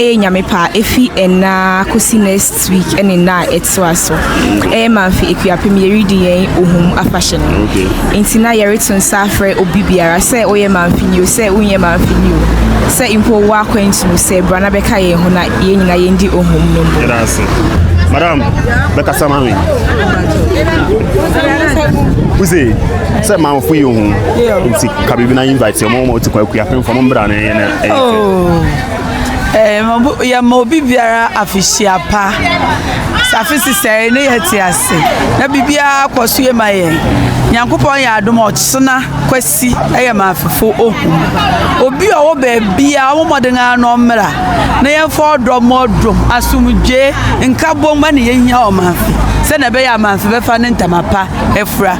Ɛyɛ Nyame pɛ a, ɛfi ɛnnɛ ara kɔsi next week ne nna a ɛtoa so. Ɛyɛ Mamfe Akuapem yɛredi yɛn Ohum afahyɛ no. Nti na yɛreto nsa afrɛ obi biara sɛ woyɛ Mamfeni o, sɛ wonyɛ Mamfeni o, sɛ mpo wowɔ akwantu no sɛ bra na bɛka yɛn ho na yɛn nyinaa yɛndi Ohum no mmom. Yɛda ase. Madam, bɛkasa ma me. Wose sɛ Mamfo yɛ Ohum nti ka biribi na invite yɛ mo ma wote kɔ Akuapem fam mbra ne Yɛma obi biara afehyia pa. Safe sesɛe ne yɛ te ase na biribiara kɔ so yɛ ma yɛn. Nyankopɔn yɛ adom ɔkyena kwasi yɛ ma afefo ohu. Obi a ɔwɔ baabi a ɔmo mmɔden ara na ɔmmra na yɛmfa ɔdɔ mmɔ dom asomdwe nkabom ne yɛhia ɔmanfe sɛnea ɛbɛyɛ amanfe bɛfa ne ntama pa afura.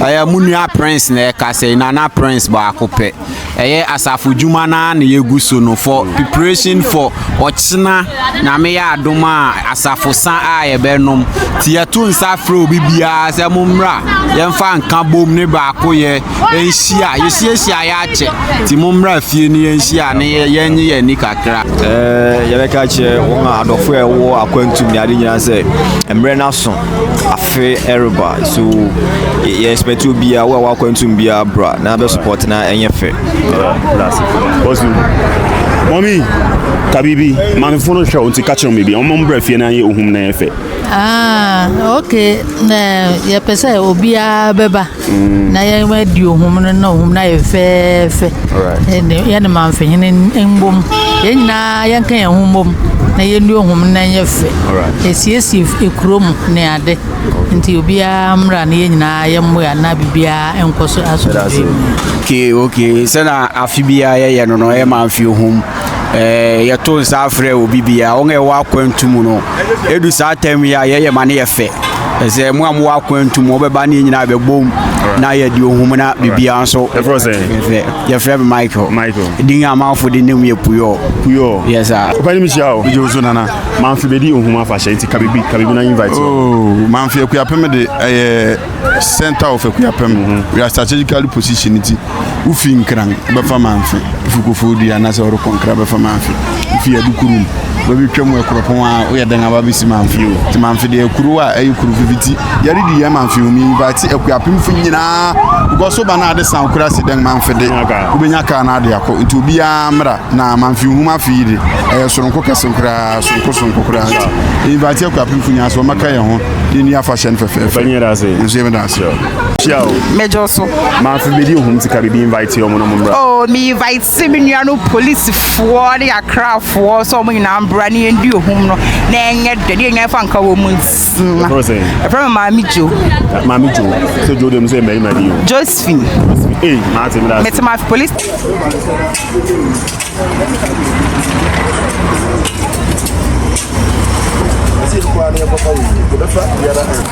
ɛyɛ mo nua prince na ɛka sɛ nana prince baako pɛ ɛyɛ asafo dwuma no ara na yɛgu so no for preparation for ɔkyena nyame yɛ adom a asafo sa a yɛbɛnom nti yɛto nsa frɛ obi biara sɛ mo mmra yɛmfa nka bom ne baako yɛ ɛnhyia yɛsiesie ayɛ akyɛ nti mo mmra fie no yɛnhyia ne yɛnye yɛn ani kakra yɛbɛka kyerɛ wɔn a adɔfo a ɛwɔ akwantum ne ade nyinaa sɛ mmerɛ no aso afe ɛreba so yɛ expect obiara wo a wakwantum biara bra na abɛ support na ɛnyɛ fɛ mɔmi ka biribi maamefo no hwɛ wo nti ka kyerɛ me bi ɔma mbra fie na ayɛ ohum na ɛyɛ fɛ ah, ok yɛpɛ sɛ obiara bɛba na yɛn adi ohum no na ohum no ayɛ fɛɛfɛ yɛne manfehene mbom yɛn nyinaa yɛnka yɛn ho mbom na yɛnni ohum no na ɛnyɛ fɛ ɛsiesie ekuro mu ne ade nti obiara mmra na yɛn nyinaa yɛmmoa na biribiara nkɔ so asomdwe mu okay okay sɛna afe biara yɛyɛ no no ɛma mfe ohum eh, yɛto nsa afrɛ obi bia wɔn a ɛwɔ akwantu mu no ɛdu saa tam yi a yɛyɛ ma no yɛ fɛ ɛsɛ mo a mowɔ akwantu mu wɔbɛba ne nyinaa bɛbom na yɛde ohum na biribiara nso yɛfrɛ me michael michael din a manfo de nim yɛ puyɔ puyɔ yɛ saa papa ne mehyia o wogye wo so nana manfe bɛdi ohum afahyɛ nti ka biribi ka biribi na invite oh, manfe akuapem de ɛyɛ center of akuapem mhm. we are strategically position nti wofi nkran bɛfa manfe wofi kɔfɔɔ dua anaasɛ worekɔ nkra bɛfa manfe wofi adukurum bɛbɛtwa mu ɛkorɔpɔn a woyɛ dɛn aba bɛsi manfe o nti manfe deɛ kuro a ɛyɛ kuro fifiti yɛredi yɛn manfe ho invite akuapemfo nyinaa because so ba no ade san kora si dɛn manfe de wobɛnya kaa no ade akɔ nti obiara mmra na manfe ho mafe yi de ɛyɛ soronko kɛse koraa soronko soronko koraa nti invite akuapemfo nyinaa sɛ wɔmɛka yɛn ho yɛni afahyɛ no fɛfɛɛfɛ nso yɛmɛda ase Hyia o. Mɛgye so. Maa fi bedi ohun ti ka bibi invite yɛ ɔmo na ɔmo mbra. Oh mi invite se mi nua no polisifoɔ ne akrafoɔ sɛ ɔmo nyinaa mbra ne yɛn di ohun no na ɛnyɛ dɛ ne yɛn nyinaa fa nka wɔn mu nsia. Ɛfrɛ sɛ. Ɛfrɛ mi maame jo. Maame jo sɛ jo de mu sɛ mmarima ni o. Josephine. Ee maa ti mi da. Mɛ ti maa fi polisi. Esse é o Guarani Papai, toda a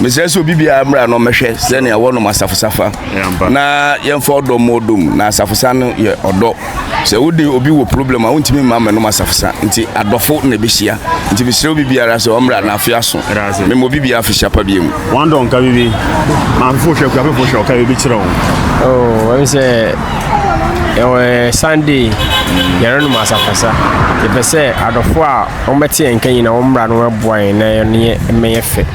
mesrɛ sɛ obi biara mmra no mmɛhwɛ sɛnea wɔnom asafosafa na yɛmfa ɔdɔ mmɔ ɔdɔ mu na asafosa no yɛ ɔdɔ sɛ wode obi wɔ problem a wontumi mma mmɛnom asafosa nti adɔfo na ɛbɛhyia nti mesrɛ obi biara sɛ ɔmmra na afe aso mema obi biara afe hyapa bia mu wɔn dɔ nka bibi maafefo hwɛ kuafefo hwɛ ɔka bibi kyerɛ wo wɔn sɛ ɛwɔ sunday yɛrenom asafosa yɛpɛ sɛ adɔfo a wɔbɛte yɛn nka nyina wɔmmra no wɔaboa yɛn na yɛne yɛ mmɛyɛ fɛ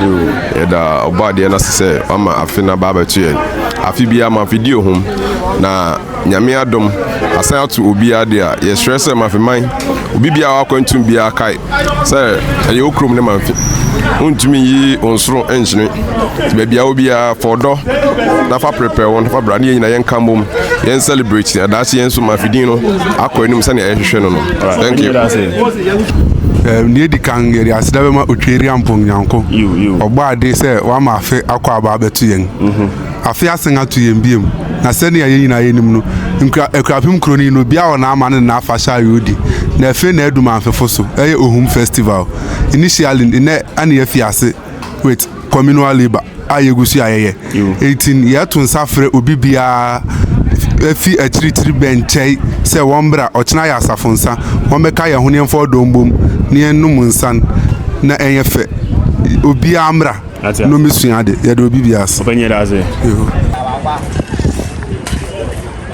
Yoo, yɛda Ɔbɔadeɛ no ase sɛ wama afe no aba abɛto yɛn. Afe biara Mafedi ohum, na Nyame adom, asan ato obiara de a, yɛsrɛ sɛ Mafeman, obi biara a ɔwɔ akwantum biara kae sɛ ɛyɛ wo kurom ne Mafe. Wontumi nyi wo nsoro nkyene, nti baabi a wɔ biara, fa ɔdɔ na fa prepare wo ho fa bra ne yɛn nyinaa yɛnka mmom, yɛn celebrate, na daakye yɛn nso Mafe din no akɔ anim sɛnea yɛhwehwɛ no no. Thank you. Nea edi kan, yɛde aseda bɛma Otweri Ampong Nyanko, ɔbɔ ade sɛ wama afe akɔ aba abɛto yɛn. Mhm. Afe asen ato yɛn biom, na sɛnea yɛn nyinaa yɛnim no, nkura Akurapem kuro no yi no, obiara wɔ n'ama ne n'afahyɛ a yɛredi. Na afe na adu Mamfefo so, ɛyɛ Ohum Festival. Initially, nnɛ na yɛafi ase. with communal labour a yɛgu so a yɛyɛ ɛnti yɛto nsa frɛ obi biara afi akyirikyiri bɛnkyɛe sɛ wɔmbra ɔkyena yɛ asafo nsa wɔmbɛka yɛn ho ne yɛmfa ɔdɔ mbom ne yɛnom nsan na ɛnyɛ fɛ obiara mmra na ɔmmɛsua ade yɛde obi biara ase.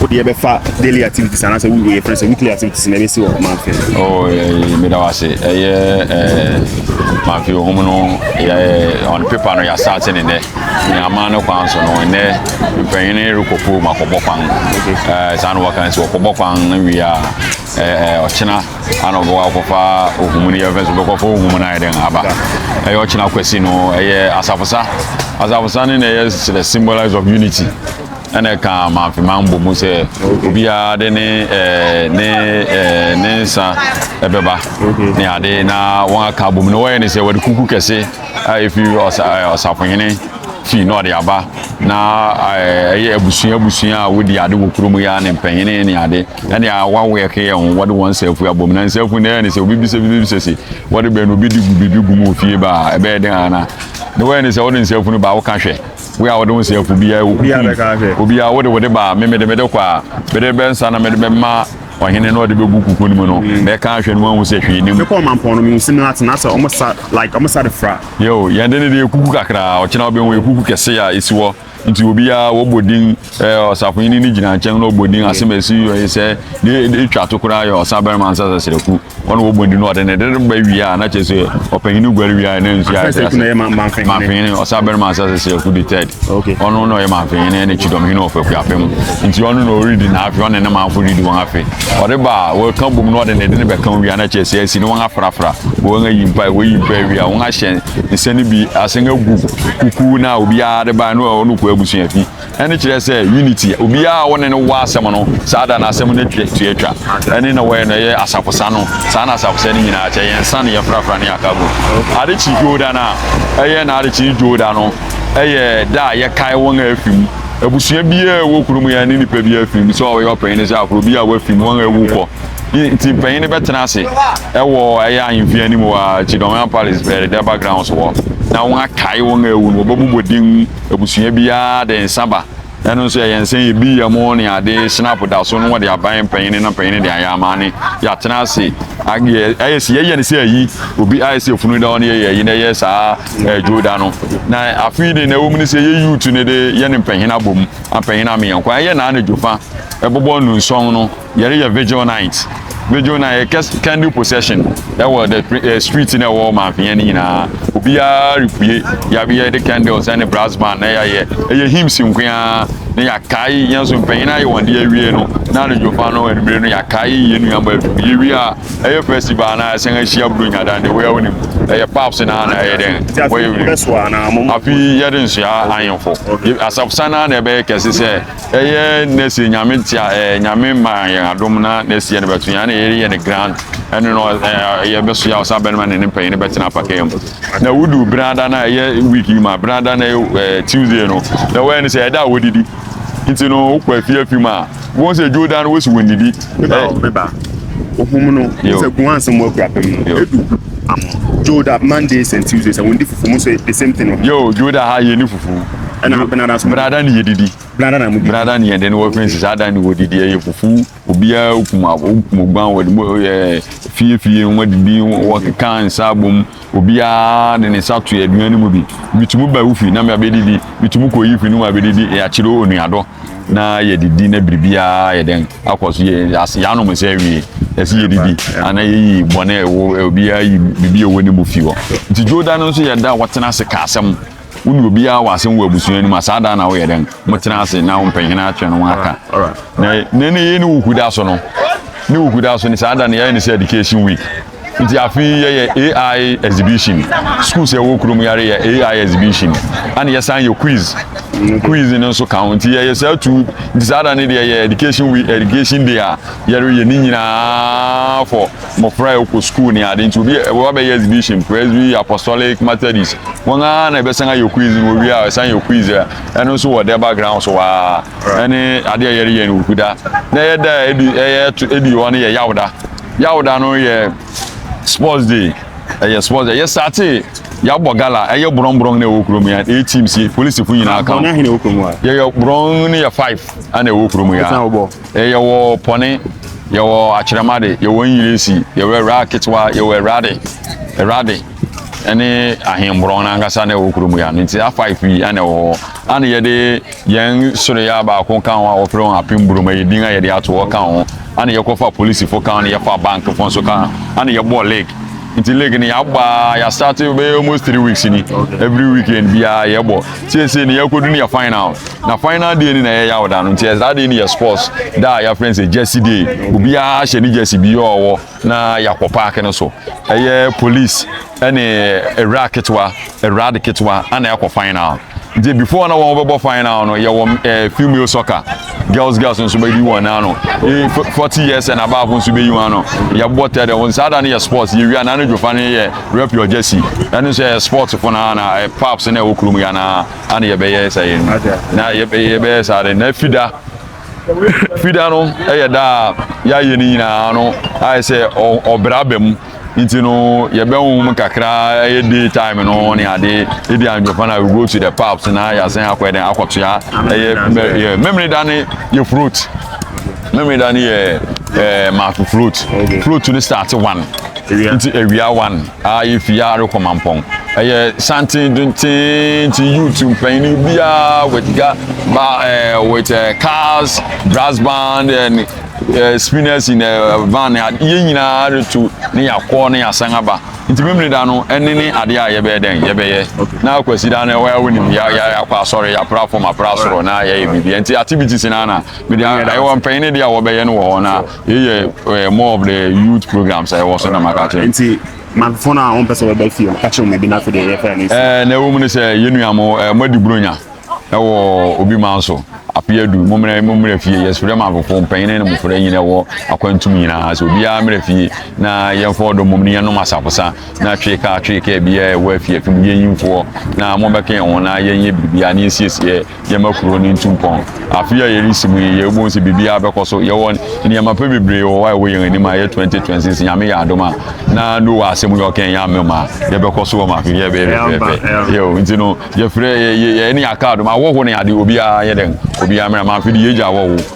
wode ɛbɛfa daily activities anaasɛ woyɛ frɛ sɛ weekly activities na ɛbɛsi wɔ manfe oh, eh, meda wo ase ɛyɛ eh, manfe ohum no yɛ on paper no yɛasate ne nnɛ nyama no kwan so no ɛnɛ mpanyini rekɔpo mu akɔbɔ kwan eh, saa na wɔka sɛ wɔkɔbɔ kwan no wie a ɔkyena ana ɔbɛkɔ akɔfa ohum no yɛfɛ so bɛkɔfa ohum no ayɛ dɛn aba ɛyɛ ɔkyena kwasi no ɛyɛ asafosa asafosa ne na ɛyɛ sɛ the symbolize of unity ɛna ɛka manfema mbɔ mu sɛ obiara de ne eh, ne eh, ne nsa ɛbɛba ne ade na wɔn aka abɔ mu na wɔyɛ ne sɛ wɔde kuku kɛse a efi eh, ɔsafohene fi na ɔde aba na ɛyɛ abusua abusua a wodi ade wɔ kurom yi a ne mpanyini ne ade ɛne a wawo yɛ kɛyɛ ho wɔde wɔn nsafu abɔ mu na nsafu na ɛyɛ ne sɛ obi bisa bi bisa si wɔde bɛn no obi di gu biribi gu mu ofie ba ɛbɛyɛ den ana na wɔyɛ ne sɛ wɔde nsafu no ba wɔka hwɛ. Wo a wode wo nseafo biara a wokukum obiara wode wode ba me mede mede kɔ a mede bɛ nsa na mede bɛma ɔhene na ɔde bɛgu kuku no mu no na ɛka ahwɛ no wahu sɛ hwee nim. Mekɔ ɔmampɔn no mehu sɛ no atena sɛ ɔmo sa like ɔmo sa de fra. Yeo yɛn de no deɛ ekuku kakraa ɔkyena wobɛhu ekuku kɛse a esi hɔ nti obiara wɔbɔ din ɛɛ ɔsafohene ne gyina nkyɛn na ɔbɔ din asɛm a esi yɛ sɛ ne etwa to koraa yɛ ɔsa barima nsa sasiraku. wɔn na wɔbɔ ndinu ɔde ne de ba wie a na kyerɛ sɛ ɔpanyin guare wie a na nsu ayɛ sɛ ase manfenyini ɔsa bɛrima asa sɛ sɛ ɛku de tɛd ɔno na ɔyɛ manfenyini ɛna kyidɔm hene ɔfɛ kua fɛ mu nti ɔno na ɔredi na afe ɔne ne manfo redi wɔn afe ɔde ba a wɔka bom na ɔde ne de ne bɛka wie a na kyerɛ sɛ asi ne wɔn afrafra wɔn ayi mpa wɔyi mpa wie a wɔn ahyɛ nsɛn bi asen agu kuku na obiara de ba na ɔno kɔ abusua fi ɛne kyerɛ sɛ unity obiara a wɔne no wɔ asɛm no saa da no asɛm no tua atwa ɛne na wɔyɛ no ɛyɛ asafosa no saa na asafosa no nyinaa kyɛ yɛn nsa ne yɛn frafra ne aka mu ade kyi dwoda no a ɛyɛ na ade kyi dwoda no ɛyɛ da a yɛkae wɔn a afi mu abusua biara ɛwɔ kurom yɛn ne nipa biara fi mu sɛ ɔyɛ ɔpanyin ne sɛ aforo bi a wafi mu wɔn a awu kɔ nti mpanyin no bɛtena ase ɛwɔ ɛyɛ ahemfie anim wɔ kyidɔn palace ɛdɛba grounds wɔ na wɔn akae wɔn a awu no wɔbɛbobɔ din Abusua biara de nsa ba. Ɛno nso ɛyɛ nsa yi bi yam ne ade snap da so no wɔde aban mpanyin na mpanyin de ayɛ ama ne yɛatena ase ayɛ ayɛ si yɛyɛ ne sɛ ayi obi ayɛ sɛ efunu da hɔ ne yɛyɛ ayi na ɛyɛ saa ɛdwo da no na afei de na ɛwɔ mu ne sɛ yɛ yuutu ne de yɛ ne mpanyin abom mpanyin ameyɛ nkwa ɛyɛ na anadwo fa ɛbobɔ nnusɔn no Yɛreyɛ vigil night. Vigil night yɛ kɛse candle procession ɛwɔ the eh, street na ɛwɔ manfia no nyinaa. Obiara repue. Yɛabeyɛ de candles ɛne brass band na yɛayɛ. Ɛyɛ hymns nkoaa na yɛakae yɛn so mpanyin ayɛ wɔn de awie no. Na anadwo fa no anumere no yɛakae yɛn nuamma afi mu. Yɛwie a ɛyɛ festival na ɛsɛn ahyia buru nyada ne wɔyɛ wonim. Ɛyɛ paps na na ɛyɛ dɛn. Wɔyɛ wonim. Afi yɛde nsoa ahemfo. Asafo sana na ɛbɛyɛ kɛse sɛ Ɛyɛ nɛsiɛ nyame tia ɛɛ nyame ma yɛn adom na nɛsiɛ no bɛto yɛn na yɛyɛ ne grand ɛno no ɛɛ yɛbɛso yɛ ɔsa bɛnima ne ne mpanyin no bɛtena apakɛn mu na wudu brada na ɛyɛ week yi ma brada na ɛyɛ ɛɛ tuesday no na wɔyɛ ne sɛ ɛda a wɔdidi nti no wokɔ afi afi mu a wɔn sɛ dwo da no wosi wɔn didi. Meba ohun no sɛ gun ansɛm mu akura pɛm no edu amo dwo da mondays and tuesdays a wɔn di fufu mu sɛ the same thing. Yo dwo da ha yɛ ni fufu. ɛna benada so benada ne yɛdidi benada na mudi benada ne yɛde ne wɔfrɛ sɛ saa da ne wɔdidi ɛyɛ fufu obiara okum abo okum ogban wɔde mu ɛyɛ fiefie wɔn adidi wɔkeka nsa abom obiara de ne nsa to aduane no mu bi bitumi ba wofi na mɛ abɛdidi bitumi kɔ yi fi no mu abɛdidi yɛakyerɛ onuadɔ na yɛdidi na biribiara yɛ dɛn akɔ so yɛ ase yɛanom nsa awie ɛsɛ yɛdidi ana yɛyi bɔne ɛwɔ obiara yi biribi ɛwɔ ne mu fi hɔ nti dwoda no nso yɛda wɔtena ase ka asɛm wo ne obiara wɔ asɛm wɔ abusua no mu a saa da na woyɛ dɛn motena ase na wompɛhene atwe no aka na na ne yɛ ne woku da so no ne woku da so ne saa da no yɛyɛ ne sɛ education week nti afei yɛyɛ ai exhibition school sɛ ɛwɔ kurom yare yɛ ai exhibition ana yɛsan yɛ quiz quiz no nso ka ho nti yɛyɛ saa tu nti saa da no deɛ yɛ education week education day a yɛreyɛ ne nyinaa fɔ mmofra a wɔkɔ sukuu ne ade nti obi ɛwɔ abɛyɛ exhibition presby apostolic methodist wɔn ara na ɛbɛsan ayɛ quiz no owie a ɛsan yɛ quiz a ɛno nso wɔ dɛ background so waa ɛne ade a yɛreyɛ no okuda na ɛyɛ da a ɛdi ɛyɛ ɛdi hɔ no yɛ yawda yawda no yɛ sports day ɛyɛ sports ɛyɛ sate yɛabɔ gala ɛyɛ borɔnborɔn na ɛwɔ kurom yɛ eight teams polisifo nyinaa ka yɛyɛ borɔn no yɛ five ana ɛwɔ kurom yɛ E Yɛwɔ pɔne, yɛwɔ akyerɛmade, yɛwɔ Engiresi, yɛwɔ awuraa ketewa, yɛwɔ awurade, awurade, ne ahemborɔn no ankasa na ɛwɔ kuro mu ya no nti afa pii ɛna ɛwɔ hɔ ana yɛde yɛn soroya baako ka ho a wɔfrɛ wɔn apem burom ɛyɛ din a yɛde ato hɔ ka ho ana yɛkɔfa polisifo ka ho na yɛfa bankfo nso ka ana yɛbɔ league nti league no yɛabaa yɛastate bɛyɛ almost three weeks ni every weekend biara yɛbɔ siesie no yɛakɔdu no yɛ final Na final day ni na ɛyɛ yaw da no nti saa day ni yɛ sports da a yɛafrɛ no sɛ jersey day obiara ahyɛ ne jersey bi a ɔwɔ na yɛakɔ park no so ɛyɛ police ɛne awura ketewa awura de ketewa ana yɛakɔ final nti before na wɔn bɛbɔ final no yɛwɔ ɛɛ female soccer girls girls nso bɛyi wɔn ano ee forty years and above nso bɛyi wɔn ano yɛbɔ tɛ dɛ wɔn saa da no yɛ sports yɛwia na ne dwofa no yɛ rep your jersey ɛno nso yɛ sports fo na na paps na ɛwɔ kurom yɛ anaa. ana yɛbɛyɛ saa yɛn na yɛbɛyɛ saa de na fida fida no yɛ da a yɛayɛ no nyinaa no ayɛ sɛ ɔbra ba mu nti no yɛbɛn mu kakra ɛyɛ day time no ne ade ebi anwɔfa na we go to the pubs na yɛasan akɔ ɛdɛn akɔtoa ɛyɛ memory da ne yɛ fruit memory da ne yɛ ɛɛ maafo fruit fruit no start one nti awia one. a yefi ha rekɔ mampɔn ɛyɛ santen dentee nti youth mpanyin no biara with ga ba ɛɛ eh, with ɛɛ eh, cars brass band and ɛɛ eh, spinners in ɛɛ van yɛn nyinaa retu ne yakɔ ne yasan aba nti mmiri da no ɛne ne adeɛ a yɛbɛyɛ dɛn yɛbɛyɛ na akwasi da no ɛwɔ ɛwɔ nim ya ya yakɔ asɔre yapra fam apra soro na yɛyɛ biribi nti activities na na mede ɛwɔ mpanyin no deɛ a wɔbɛyɛ no wɔ hɔ na Yei yɛ eh, more of the youth programs a ɛwɔ so na maka kyerɛ. Nti manfo no a wɔmpɛ sɛ wɔbɛ fie no ka kyerɛ wɔn ebi n'afɛ deɛ yɛfɛ no. Ɛɛ na ɛwɔ mu no sɛ yɛn nua mo ɛɛ mo adi buronya ɛwɔ obi man so apia du mo mmerɛ mo mmerɛ fie yɛsrɛ ma afofo mpanyin ne mo fura nyina ɛwɔ akwantum nyinaa sɛ obiara mmerɛ fie na yɛn fɔ ɔdɔ mom ne yɛn nom asafosa na twe kaa twe kaa biara ɛwɔ afie afim yɛn nyimfoɔ na mo bɛka yɛn ho na yɛn yɛ biribiara ne yɛn siesie Yɛma kuro no ntu mpɔn. Afe a yɛresi mu yi, yɛbɔ mu sɛ biribiara bɛkɔ so. Yɛwɔ nneɛma pa bebree wɔ hɔ a ɛwɔ yɛn anim a ɛyɛ 2026 Nyame yɛ adom a. Na Noah asɛm yi ɔkae yɛ amem a, yɛbɛkɔ so wɔ ma afe yi ɛbɛyɛ fɛfɛɛfɛ. Yɛo nti no, yɛfrɛ yɛ yɛ yɛne yɛaka adom ahɔho ne ade obiara nyɛ dɛn? Obiara mmra ma afe yi yɛgya ahɔho.